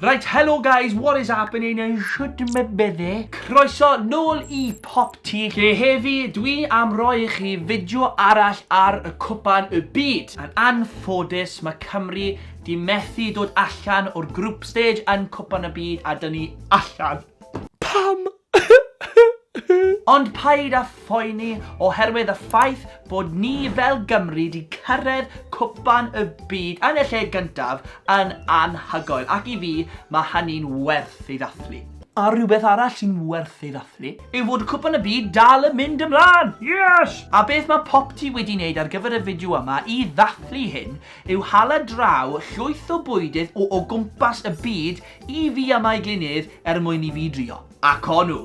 Reit, hello guys, what is happening and shwt mae bedde? Croeso nôl i Pop Tea, lle heddi dwi am roi i chi fideo arall ar y cwpan y byd. Yn anffodus, mae Cymru di methu dod allan o'r group stage yn cwpan y byd a dyn ni allan. Pam? Ond paid â phoeni oherwydd y ffaith bod ni fel Gymru 'di cyrraedd Cwpan y Byd yn y lle gyntaf yn anhygoel ac i fi mae hynny'n werth ei ddathlu. A rhywbeth arall sy'n werth ei ddathlu yw fod Cwpan y Byd dal yn mynd ymlaen! Yes! A beth mae Popty wedi neud ar gyfer y fideo yma i ddathlu hyn yw hala draw llwyth o bwydydd o o gwmpas y byd I fi am ai glynydd er mwyn i fi drio. Ac o nhw!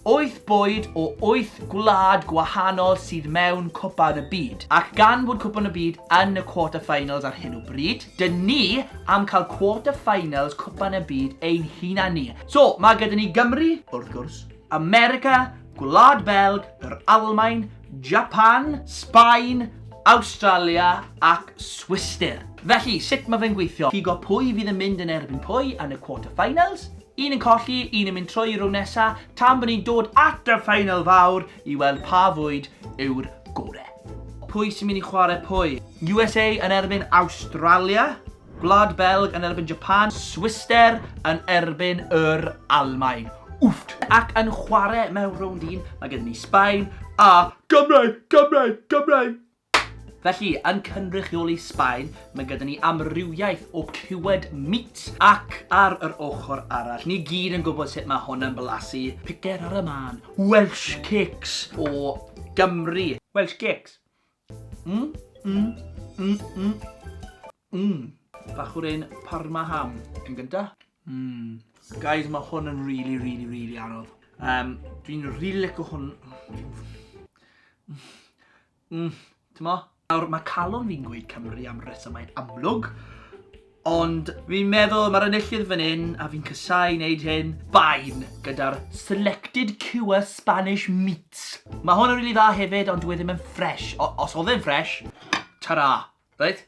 Wyth bwyd o wyth gwlad gwahanol sydd mewn Cwpan y Byd. Ac gan fod Cwpan y Byd yn y quarter finals ar hyn o bryd, dyn ni am cael quarter finals Cwpan y Byd ein hunan ni. So, mae gyda ni Gymru, wrth gwrs, America, Gwlad Belg, yr Almaen, Japan, Sbaen, Awstralia ac Swistir. Felly, sut mae fe'n gweithio? Pigo pwy fydd yn mynd yn erbyn pwy yn y quarter finals, un yn colli, un yn mynd trwy i rownd nesa, tan bod ni'n dod at y final fawr i weld pa fwyd yw'r gore. Pwy sy'n mynd i chwarae pwy? USA yn erbyn Awstralia. Gwlad Belg yn erbyn Japan. Swisder yn erbyn yr Almaen. Wfft! Ac yn chwarae mewn rownd un, mae gyda ni Sbaen a Gymru! Gymru! Gymru! Felly, yn cynrychioli Sbaen, mae gyda ni amrywiaeth o cured meat ac ar yr ochr arall, ni gyd yn gwybod sut mae hwn yn blasu, picer ar y mân, Welsh cakes o Gymru! Welsh cakes! Mmm, mmm, mmm, mmm, mmm. Bach o'r un parma ham yn gynta. Mmm. Guys, mae hwn yn really, really, really anodd. Um, Dwi'n really licio hwn. Mmm, ti'n mo? Nawr, mae calon fi'n gweud Cymru am resymau amlwg. Ond fi'n meddwl mae'r enillydd fan hyn, a fi'n casau wneud hyn, bain gyda'r selected cua Spanish meat. Mae hwn yn rili dda hefyd, ond dwi e ddim yn ffres. Os oedd e'n ffres, ta-ra. Reit,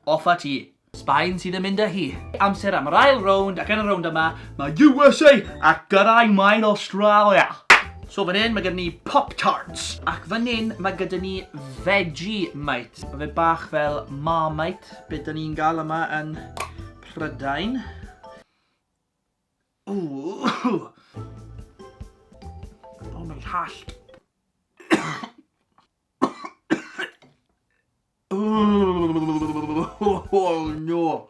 off a ti. Sbaen sydd yn mynd â hi. Amser am yr ail rownd, ac yn y rownd yma, mae USA ac gyrraedd maen Australia. So fan hyn mae gyda ni Pop-Tarts. Ac fan hyn mae gyda ni Vegemite. Mae fe bach fel Marmite. Be da ni'n gael yma yn Prydain? Ooh. Oh, mae'n hallt. oh, no.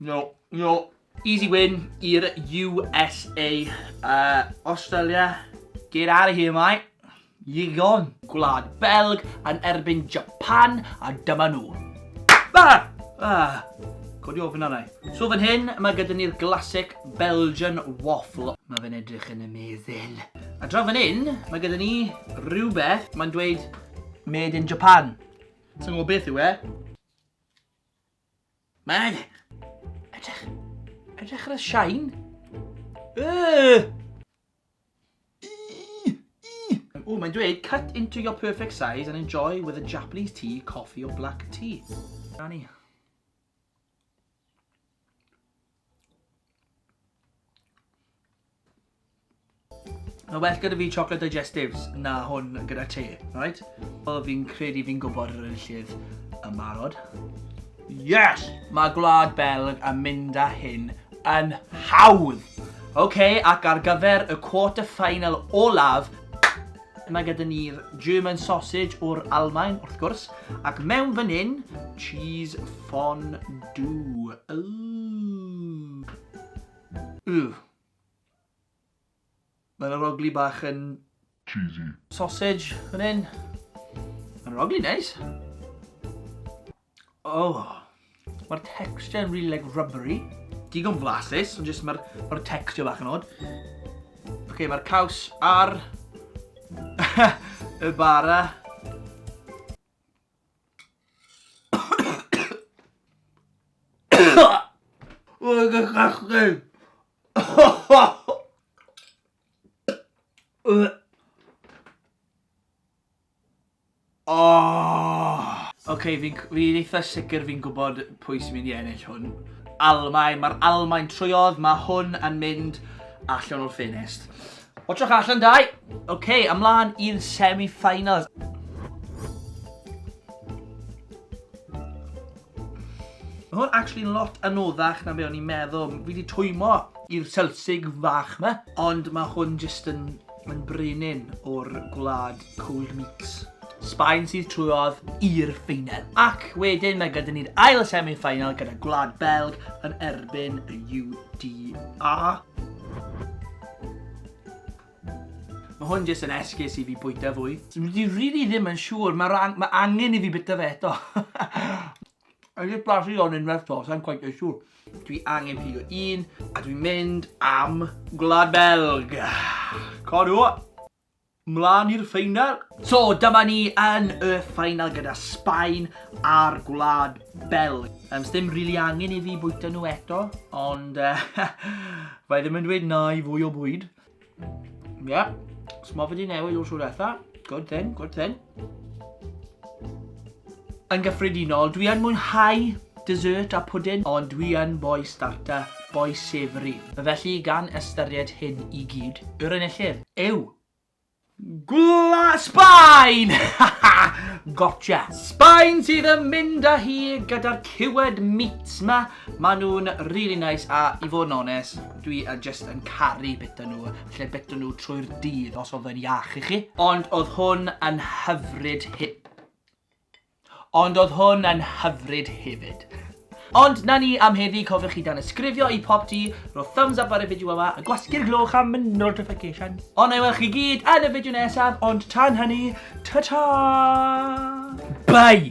No, no. Easy win i'r USA. Uh, Australia, get out of here, mate. You're gone. Gwlad Belg yn erbyn Japan, a dyma nhw. Ah! Ah! Codi ofyn arna i. So fan hyn, mae gyda ni'r classic Belgian waffle. Mae fe'n edrych yn amazing. A draw fan hyn, mae gyda ni rhywbeth, mae'n dweud Made in Japan. Ti'n gwybod beth yw e? Man! Edrych. Edrych ar y shine. Ugh! O, mae'n dweud, cut into your perfect size and enjoy with a Japanese tea, coffee or black tea. Rani. Mae well gyda fi chocolate digestives na hwn gyda te, right? Wel, fi'n credu fi'n gwybod yr enillydd yn barod. Yes! Mae Gwlad Belg a mynd â hyn yn hawdd! OK, ac ar gyfer y quarter final olaf, Mae gyda ni'r German sausage o'r Almaen, wrth gwrs, ac mewn fan hyn, cheese fondue. Ooh. Ooh. Mae'n arogli bach yn... Cheesy. Sausage fan hyn. Mae'n arogli neis. Nice. Oh. Mae'r texture yn really like rubbery. Digon flasus, ond jyst mae'r ma texture bach yn odd. Oce, okay, mae'r caws ar y bara. Mae'n disgusting! Ohh! Ok, fi'n c- fi'n eitha sicr fi'n gwbod pwy sy'n mynd i ennill hwn. Almaen, ma'r Almaen trwyodd, ma' hwn yn mynd allan o'r ffenest. Watsiwch allan dau! Ok, ymlan i'r semi-finals. Mae hwn actually yn lot anoddach na be o'n i'n meddwl. Fi wedi twymo i'r selsig fach ma, ond mae hwn jyst yn, yn brenin o'r gwlad cold meats. Sbaen sydd trwyodd i'r ffeinal. Ac wedyn mae gyda ni'r ail semi-final gyda Gwlad Belg yn erbyn y UDA. Mae hwn jyst yn esgus i fi bwyta fwy. Dwi rili ddim yn siŵr, mae angen i fi bita fe eto. I just blasu hon unwaith to, sa'n cweit yn siŵr. Dwi angen pidio un, a dwi'n mynd am Gwlad Belg. Codw! Mlaen i'r ffeinal. So, dyma ni yn y ffeinal gyda Sbaen a'r Gwlad Belg. Um, Sdim rili angen i fi bwyta nhw eto, ond uh, fe ddim yn dweud na i fwy o bwyd. Ie, yeah. smod wedi newid o'r siwr etha. Good thing, good thing. Yn gyffredinol, dwi yn mwynhau dessert a pwdin, ond dwi yn boi starter, boi sefri. Felly, gan ystyried hyn i gyd, yw'r enillydd yw Gwla Sbaen! Gotcha! Sbaen sydd yn mynd a hi gyda'r cured meat ma, ma nhw'n really nice a i fod yn onest dwi yn just yn caru bita nhw, lle bita nhw trwy'r dydd os oedd yn iach i chi. Ond oedd hwn yn hyfryd hip. Ond oedd hwn yn hyfryd hefyd. Ond 'na ni am heddi, cofiwch chi danysgrifio i Popty, rho thumbs up ar y fideo yma a gwasgu'r gloch am y notifications. Ond na i weld chi gyd yn y fideo nesaf, ond tan hynny, ta-ta! Bye!